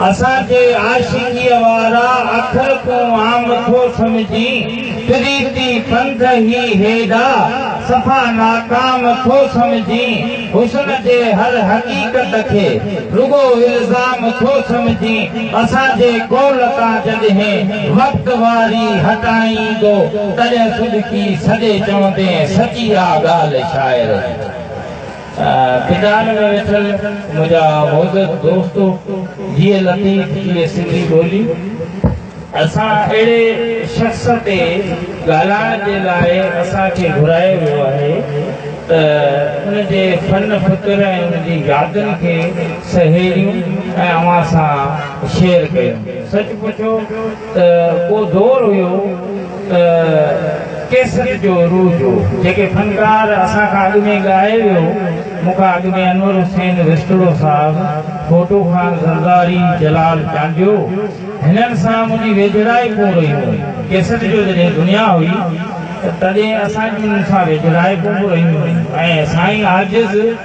اسان کي عاشقيء وارا اکر تون عام ٿو سمجھين، پريتي پنڌ هي هيڏا صفا ناڪام ٿو سمجھين، حسن جي هر حقيقت کي رڳو الزام ٿو سمجھين، اسان جي قول تان جڏهن وقت واري هٽائين ايندو، تڏهن صدقي سڏي چوندين سچي آ ڳالهه شاعر جي. ميدان ۾ ويٺل منهنجا معزز دوستو، جيء لطيف جيء سنڌي ٻولي، اسان اهڙي شخص تي ڳالهائڻ جي لاء اسان کي گهرايو ويو آهي ته ان جي فن فڪر ۽ ان جي يادن کي سهيڙيون ۽ اوهان سان شيئر ڪيون. سچ پڇو ته ڪو دور هيو ڪيسٽ جو عروج هو، جيڪي فنڪار اسان کان اڳ ۾ ڳائي ويو، مون کان اڳ ۾ انور حسين وسٽڙو صاحب، ڦوٽو خان زرداري، جلال چانڊيو، هنن سان منهنجي ويجهڙائي ڪون رهي هئي، ڪيسٽ جو جڏهن دنيا هئي ته تڏهن اسان جون انهن سان ويجهڙائي ڪون رهيون هيون ۽ سائين عاجز.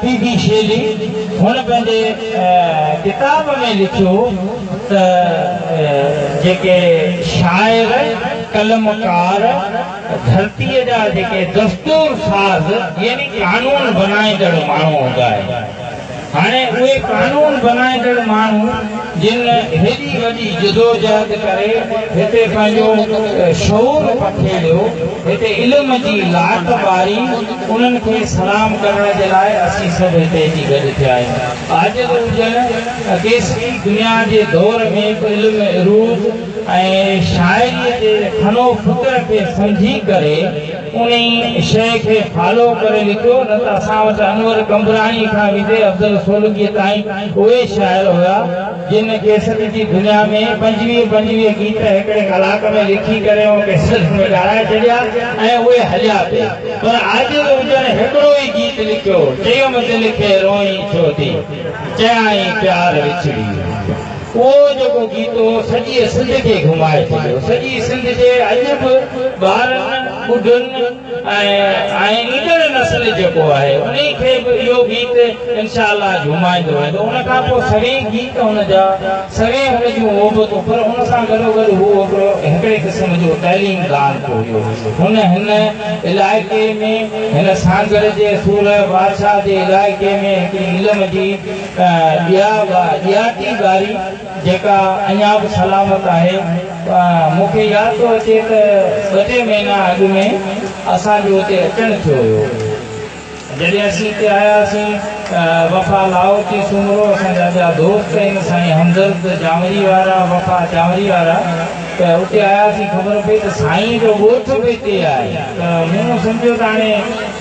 پي بي شيلي هن پنهنجي ڪتاب ۾ لکيو ته جيڪي شاعر، قلمڪار، ڌرتيء جا جيڪي دستور ساز يعني قانون بنائيندڙ ماڻهو هوندا آهن، هاڻي اهي قانون بنائيندڙ ماڻهو جن هيڏي وڏي جدوجهد ڪري هتي پنهنجو شعور پکيڙيو، هتي علم جي لاٽ ٻاري، انهن کي سلام ڪرڻ جي لاء اسين سڀ هتي اچي گڏ ٿيا آهيون. آجو ته هجن، اڪيسوين دنيا جي دور ۾ به علم عروض ۽ شاعريء جي فن و فڪر کي سمجهي ڪري انهي شيء کي فالو ڪري لکيو، نه ته اسان وٽ انور قمبراڻيء کان ويندي افضل سولنگيء تائين اهي شاعر هيا، جن ڪيسٽ جي دنيا ۾ پنجويهه پنجويهه گيت هڪڙي ڪلاڪ ۾ لکي ڪري مون کي سلف ۾ ڳائرائي ڇڏيا ۽ اهي هليا پي پر عاجز هجڻ هڪڙو ئي گيت لکيو چيم دل کي روئين ڇو ٿي چيائين پيار وڇڙي ويو اهو جيڪو گيت هو سڄيء سنڌ کي گهمائي ڇڏيو سڄي سنڌ جي اڄ به ٻارن ٻڍن ۽ ايندڙ نسل جيڪو آهي انهي کي به اهو گيت انشاء الله جهومائيندو ويندو ان کان پوء سوين گيت هن جا سوين هن جون اوبتون پر ان سان گڏو گڏ هو هڪڙو هڪڙي قسم جو تعليم دان به هيو هن هن علائقي ۾ هن سانگهڙ جي سورهيه بادشاهه جي علائقي ۾ هڪڙي علم جي ڏيا ڏياٽي ٻاري جيڪا اڃا به سلامت آهي. مون کي ياد ٿو اچي ته ٻه ٽي مهينا اڳ ۾ اسان جو اتي اچڻ ٿيو هيو. جڏهن اسين اتي آياسين، وفا لاهوتي سومرو، اسان جا ٻيا دوست هن سائين همدرد جانوري وارا، وفا جانوري وارا ته اتي آياسين خبر پئي ته سائينء جو ڳوٺ به اتي آهي ته مون سمجهيو ته هاڻي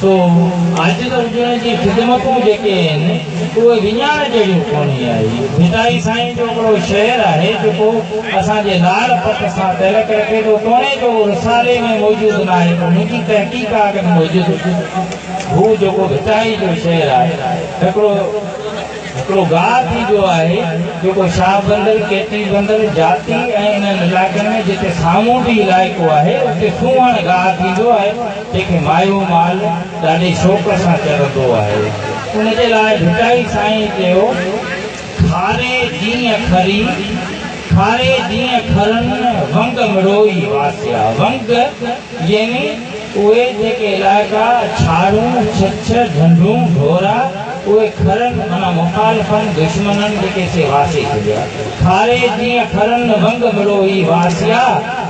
سو اڄ ترجمي جي خدمتون جيڪي آهن اهي وڃائڻ جهڙيون ڪونهي آهي ڀٽائي سائين جو هڪڙو شعر آهي جيڪو اسان جي لاڙ پٽ سان تعلق رکي ٿو توڻي جو اهو رسالي ۾ موجود ناهي پر منهنجي تحقيق آ ڪن موجود هو جيڪو ڀٽائي جو شعر آهي هڪڙو هڪڙو گاء ٿي ويو آهي جيڪو شاهه بندر ڪيٽي بندر جاتي ۽ انهن علائقن ۾ جتي سامونڊي علائقو آهي اتي سونهن گاء ٿي ويو آهي جيڪي مايو مال ڏاڍي شوق سان چرندو آهي ان جي لاء ڀٽائي سائين چيو، کاري جيئن کري، کاري جيئن کرن ونگ مڙوئي واسيا، ونگ يعني اهي جيڪي علائقا ڇاڙون، ڇڇ، ڍنڍون، ڍورا، اهي کرن معنيٰ مخالفن، دشمنن، جيڪي سي واسي ڇڏيا، کاري جيئن کرن ونگ مڙوئي واسيا،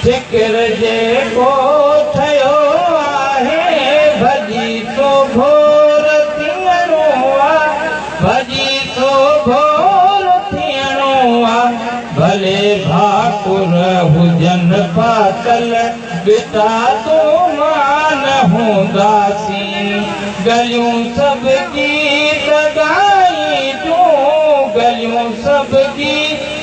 فڪر جيڪو ٺهيو آهي ڀڄي ٿو ڀور ٿيڻو آ ڀڄي ٿو ڀور ٿيڻو آ ڀلي ڀاڪر هجن پاتل ٻٽا تون مان نه هونداسين ڳليون سڀ گيت ڳائين تون ڳليون سڀ گيت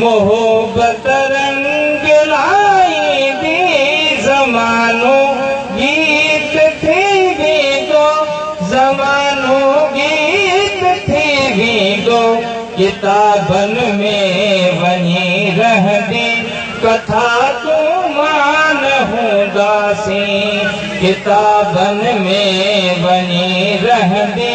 محبت رنگ لائيندي زمانو گيت ٿي ويندو زمانو گيت ٿي ويندو ڪتابن ۾ وڃي رهندي ڪٿا تون مان هونداسين ڪتابن ۾ وڃي رهندي